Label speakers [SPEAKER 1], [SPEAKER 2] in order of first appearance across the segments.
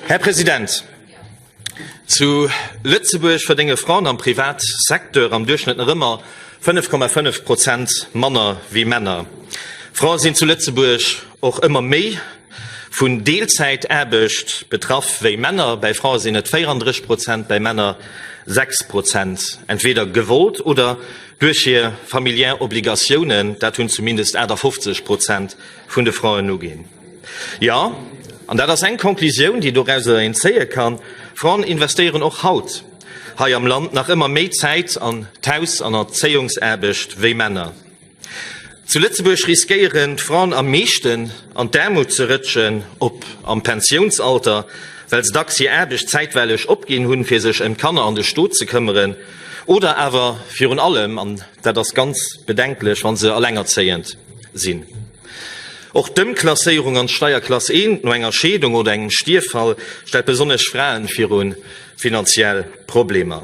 [SPEAKER 1] Här President, zu Lëtzebuerg verdénge Fraen am Privatsecteur am Duerchschnëtt nach ëmmer 5,5 Prozent manner wéi Männer. Frae sinn zu Lëtzebuerg och ëmmer méi vun Deelzäitaarbecht betraff wéi Männer, bäi Frae sinn et 34 Prozent, bäi Männer 6 Prozent, entweeder gewollt oder duerch hir familiär Obligatiounen, dat hunn zumindest 58 Prozent vun de Fraen uginn. Jo, an dat ass eng Konklusioun, déi doraus een zéie kann, Fraen investéieren och haut hei am Land nach ëmmer méi Zäit an d'Haus an Erzéiungsaarbecht wéi Männer. Zu Lëtzebuerg riskéieren d'Fraen am meeschten an d'Aarmut ze rëtschen, ob am Pensiounsalter, well se dacks hir Aarbecht zäitweileg opginn hunn, fir sech ëm d'Kanner an de Stot ze këmmeren, oder awer virun allem, an dat ass ganz bedenklech, wa se elengerzéiend sinn. Och d'Ëmklasséierung an d'Steierklass I no enger Scheedung oder engem Stierffall stellt besonnesch Fraen viru finanziell Problemer.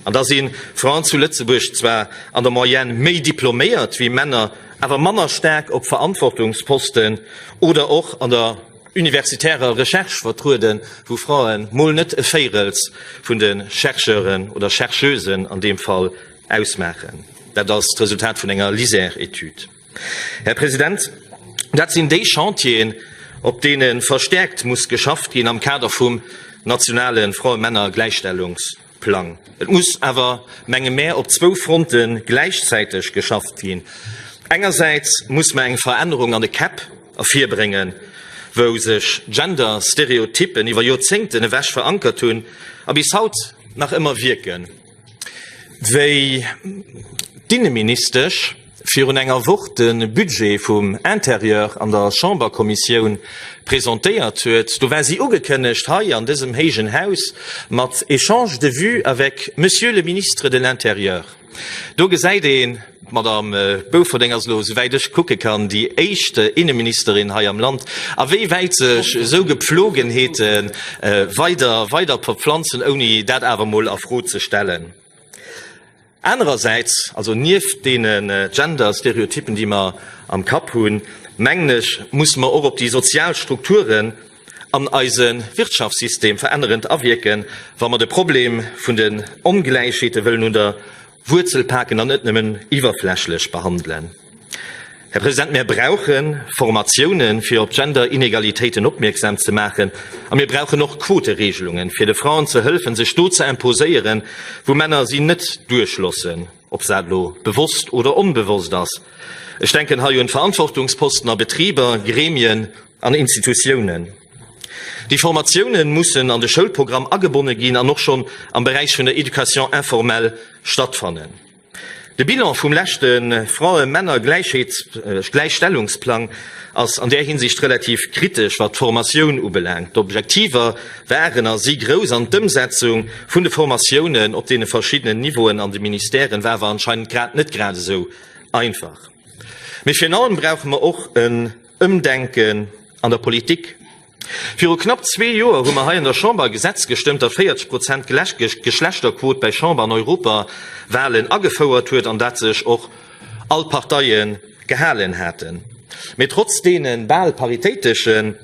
[SPEAKER 1] An da si Fraen zu Lëtzebuerg zwar an der Moyenne méi diploméiert wéi Männer, awer manner staark op Verantwortungsposten oder och an der universitärer Recherche vertrueden, wou Fraen mol net e Véirels vun de Chercheuren oder Chercheusen an deem Fall ausmaachen. Dat ass d'Resultat vun enger Liser-Etüd. Här President, dat sinn déi Chantieren, op deene verstäerkt muss geschafft ginn am Kader vum nationale Frae-Männer-Gläichstellungsplang. Et muss awer, menge mär, op zwou Fronte gläichzäiteg geschafft ginn. Engersäits muss mer eng Verännerung an de Käpp ervirbréngen, wou sech Gender-Stereotyppen iwwer Joerzéngten ewech verankert hunn a bis haut nach ëmmer wierken. Wéi d'Inneministesch virun enger Woch de Budget vum Intérieur an der Chamberkommissioun presentéiert huet, do war si ugekënnegt hei an dësem héijen Haus mat Échanges de vues avec Monsieur le Ministre de l'Intérieur. Do gesäit een, D'Madame Bouferding ass elo, souwäit ech kucke kann, déi éischt Inneministerin hei am Land. A wéi wäit sech esou Gepflogenheete weider weider verpflanzen, ouni dat awer emol a Fro ze stellen? Anerersäits, also nieft deene Gender-Stereotypen, déi mer am Kapp hunn, mengen ech, musse mer och op déi sozial Strukturen an eise Wirtschaftssystem verännerend awierken, wa mer de Problem vun den Ongläichheete wëllen un der Wuerzel paken an net nëmmen iwwerflächlech behandelen. Här President, mir brauche Formatiounen, fir op Gender-Inegalitéiten opmierksam ze maachen, a mir brauchen och Quotereegelungen, fir de Fraen ze hëlfen, sech do ze imposéieren, wou Männer si net duerchloossen, ob dat elo bewosst oder onbewosst ass. Ech denken hei un Verantwortungsposten a Betriber, Gremien, an Institutiounen. Déi Formatiounen mussen an de Schoulprogramm agebonne ginn an och schonn am Beräich vun der Éducation informelle stattfannen. De Bilan vum leschte Frae-Männer-Gläichheets-Gläichstellungsplang ass an där Hinsicht relativ kritesch, wat d'Formatioun ubelaangt. D'Objektiver waren a si grouss an d'Ëmsetzung vun de Formatiounen op deene verschiddenen Niveauen an de Ministèren war awer anscheinend grad net gradesou einfach. Mee virun allem brauche mer och e. Ëmdenken an der Politik. Viru knapp zwee Joer hu mer hei an der Chamber e Gesetz gestëmmt, dat 40 Prozent Geschlechterquot bei Chamber an Europawalen agefouert huet, an dat sech och all Parteie gehalen haten. Mee trotz deene bal paritéitesche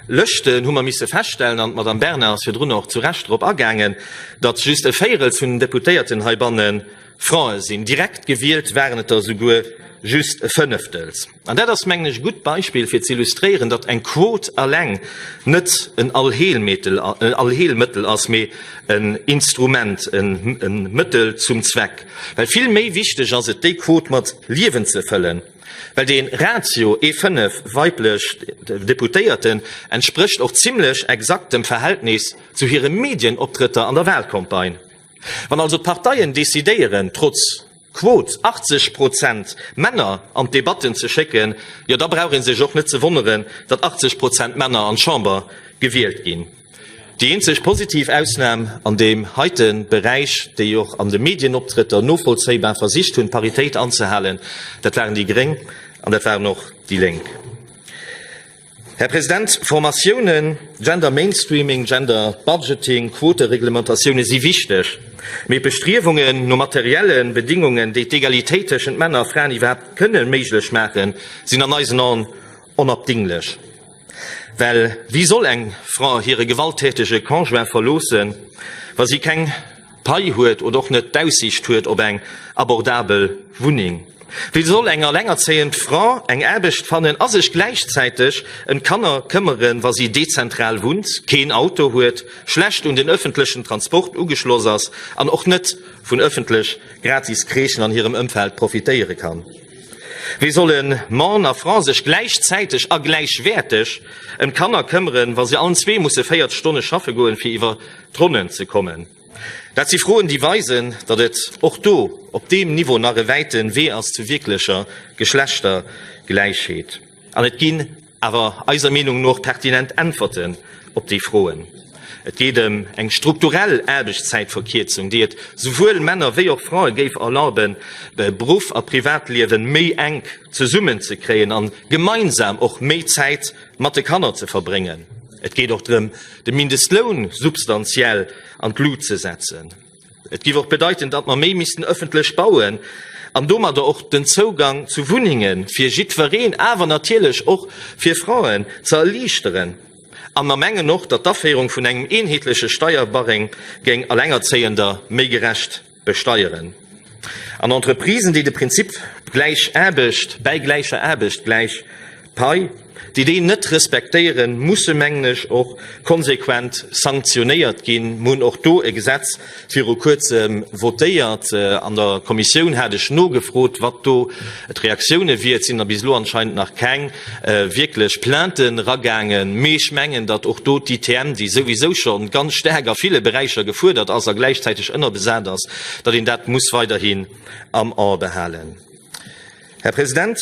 [SPEAKER 1] Lëschten hu mer misse feststellen, an d'Madame Bernard ass virdrun och zu Recht drop agaangen, datt just e Véierel vun den Deputéierten heibanne Frae sinn. Direkt gewielt waren et der souguer just e Fënneftel. An dat ass, mengen ech, e gutt Beispill, fir z'illustréieren, datt eng Quot alleng net en Allheelmëttel ass, mee en Instrument, e Mëttel zum Zweck. Well vill méi wichteg ass et, déi Quot mat Liewen ze fëllen. Well dee Ratio, ee fënnef weiblech Deputéierten, entsprécht och zimlech exakt dem Verhältnis zu hire Medienoptrëtter an der Wahlcampagne. Wann also d'Parteien decidéieren, trotz, Quot, 80 Prozent Männer an d'Debatten ze schécken, jo da brauch ee sech och net ze wonneren, datt 80 Prozent Männer an d'Chamber gewielt ginn. Déi eenzeg positiv Ausnam an deem heite Beräich, déi och an de Medienoptrëtter novollzéibar versicht hunn, d'Paritéit anzehalen, dat waren déi Gréng an dat waren och déi Lénk. Här President, Formatiounen, Gender Mainstreaming, Gender Budgeting, Quotereglementatioune si wichteg, mee d'Bestriewungen no materielle Bedingungen, déi d'Egalitéit tëschent Männer a Fraen iwwerhaapt kënne méiglech maachen, sinn an eisen Aen onabdinglech. Well wéi soll eng Fra hire gewalttätege Conjoint verloossen, wa si keng Pai huet oder och net d'Aussiicht huet op eng abordabel Wunneng. Wéi soll eng alengerzéiend Fra eng Aarbecht fannen a sech gläichzäiteg ëm d'Kanner këmmeren, wa si dezentral wunnt, keen Auto huet, schlecht un den ëffentlechen Transport ugeschloss ass an och net vun ëffentlech gratis Crèchen an hirem Ëmfeld profitéiere kann? Wéi solle Mann a Fra sech gläichzäiteg a gläichwäerteg ëm d'Kanner këmmeren, wa si allen zwee musse 40 Stonne schaffe goen, fir iwwer D'Ronnen ze kommen. Dat si Froen, déi weisen, datt et och do op deem Niveau nach e wäite Wee ass zu wierklecher Geschlechtergläichheet. An et ginn awer eiser Meenung no pertinent Äntwerten op déi Froen. Et geet ëm eng strukturell Aarbechtszäitverkierzung, déi et souwuel Männer wéi och Frae géif erlaben, Beruff a Privatliewen méi enk zesummenzekréien an gemeinsam och méi Zäit mat de Kanner ze verbréngen. Et geet och drëm, de Mindestloun substanziell an d'Lut ze setzen. Et giff och bedeiten, datt mer méi missten ëffentlech bauen an domadder och den Zougang zu Wunnenge fir jiddwereen, awer natierlech och fir Fraen, ze erliichteren. An mer mengen och, datt d'Aféierung vun engem eenheetleche Steierbarème géing Allengerzéiender méi gerecht. besteieren. An Entreprisen, déi de Prinzip gläich Aarbecht bäi gläicher Aarbecht, gläich Pai, déi deen net respektéieren, musse mengen ech och konsequent sanktionéiert ginn. Mir hunn och do e Gesetz viru kuerzem votéiert. An der Kommissioun hat ech nogefrot, wat do d'Reaktioune wier. Et sinn der bis elo anscheinend nach keng. wierklech Plaintë ragaangen, mee ech mengen, datt och do d'ITM, déi souwisou scho ganz staark a ville Beräicher gefuerdert ass a gläichzäiteg ënnerbesat ass, datt een dat muss weiderhi am A behalen. Här President,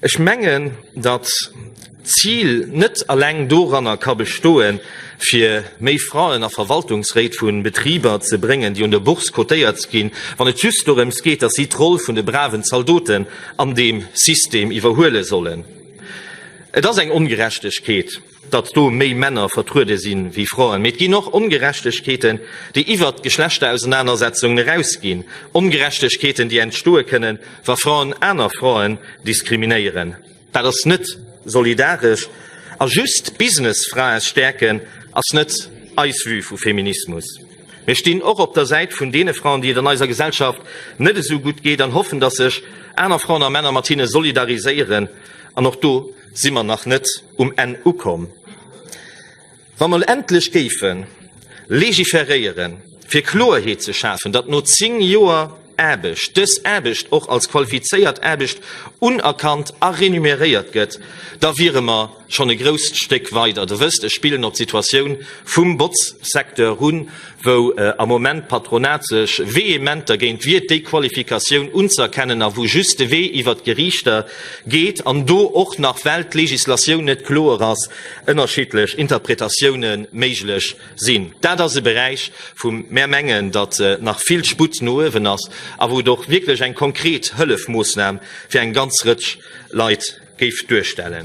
[SPEAKER 1] ech mengen, datt, Zil net eleng doranner ka bestoen, fir méi Fraen a Verwaltungsréit vu Betriber ze bréngen, déi un der Bourse cotéiert ginn, wann et just dorëms geet, datt si d'Roll vun de braven Zaldoten an deem System iwwerhuele sollen. Et ass eng Ongerechtegkeet, datt do méi Männer vertruede si wéi Fraen, mee et ginn och Ongerechtegkeeten, déi iwwer d'Geschlechterausernaanersetzungen erausginn, Ongerechtegkeeten, déi entstoe kënnen, wa Fraen aner Fraen diskriminéieren. Dat ass net solidaresch. A just d'Businessfrae stäerken ass net eis Vue vu Feminismus. Mir stinn och op der Säit vun deene Fraen, déi et an eiser Gesellschaft net esou gutt geet, an hoffen, datt sech aner Fraen a Männer mat hinne solidariséieren. An och do si mer nach net um Enn ukomm. Wa mer elo endlech géife legiferéieren, fir Kloerheet ze schafen, datt no zéng Joer Aarbecht dës Aarbecht och als qualifizéiert Aarbecht unerkannt a renuméréiert gëtt, da wiere mer schonn e grousst Stéck weider. Der wësst, ech spillen op d'Situatioun vum Botzsecteur un, wou am Moment d'Patronat sech vehement dergéint wiert, déi Qualifikatioun unzëerkennen, a wou just de Wee iwwert d'Geriichter geet an do och nach, well d'Legislatioun net kloer ass, ënnerschiddlech Interpretatioune méiglech sinn. Dat ass e Beräich, wou mär mengen, datt nach vill Sputt no uewen ass a wou et och wierklech eng konkret Hëllefmoossnam fir eng ganz Rëtsch Leit géif duerstellen.